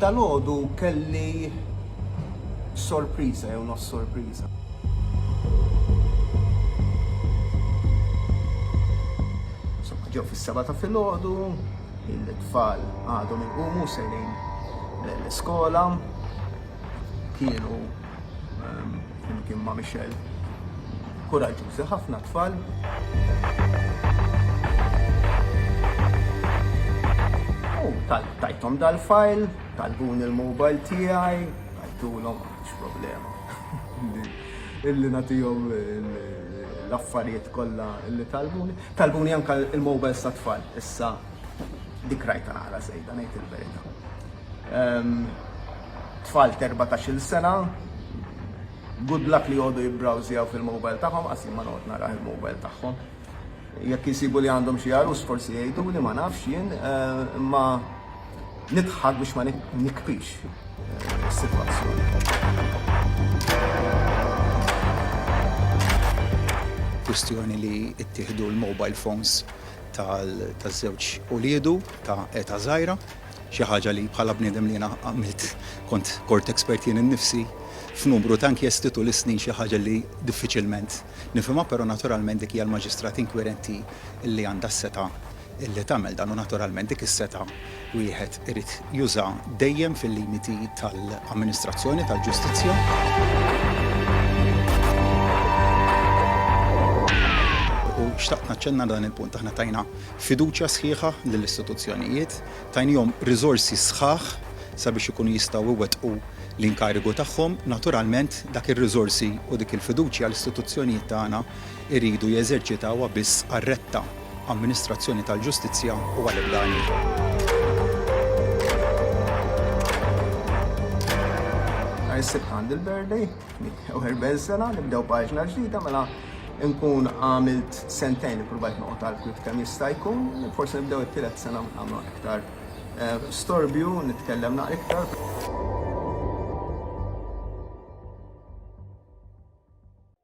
Dalgħodu kelli sorpriża jew nos sorpriża. Ġew fis-seba ta' filgħodu, il-tfal għadhom il-qumu sejrin l-iskola, kienu flimkien ma' Michelle kuraġġużi ħafna t-tfal. U tajthom dal-fajl, talbuni l-mobile tiegħi, tajthulhom, m'għandix problema illi nagħtihom l-affarijiet kollha li talbuni. Talbuni anke l-mobiles tat-tfal issa. Dik rajtha naqra żejda ngħid il-verità. Tfal t'erbatax-il sena, good luck li jgħodu jibbrowżjaw fil-mobile tagħhom, qas jien ma noqgħod nara il-mobile tagħhom. Jekk jsibu li għandhom xi għarus forsi jgħiduli ma nafx jien, imma nidħak biex ma nikbix is-sitwazzjoni. Kwistjoni li ttieħdu l-mobile phones taż-żewġ uliedu ta' età żgħira, xi ħaġa li bħala bniedem li jiena għamilt kont court expert jien innifsi f'numru ta' inkjesti tul is-snin xi ħaġa li diffiċilment nifhimha però naturalment dik hija l-maġistrat inkwirenti li għandha s-setgħa li tagħmel dan u naturalment dik is-setgħa wieħed irid juża dejjem fil-limiti tal-amministrazzjoni tal-ġustizzja. U xtaqt naċċenna dan il-punt, aħna tajna fiduċja sħiħa lill-istituzzjonijiet, tajnihom riżorsi sħaħ sabiex ikunu jistgħu jwettqu l-inkarigu tagħhom. Naturalment, dak ir-riżorsi u dik il-fiduċja l-istituzzjonijiet tagħna jridu jeżerċitawha biss għar-retta. Amministrazzjoni tal-Ġustizzja u għal ebda għan ieħor. Nhar is-Sibt għandi l-birthday, 41 sena, nibdew paġna ġdida mela nkun għamilt sentejn li provajt noqgħod għal kif kemm jista' jkun, forsi nibdew it-tielet sena nagħmlu iktar eh, storbju, nitkellem naqra iktar.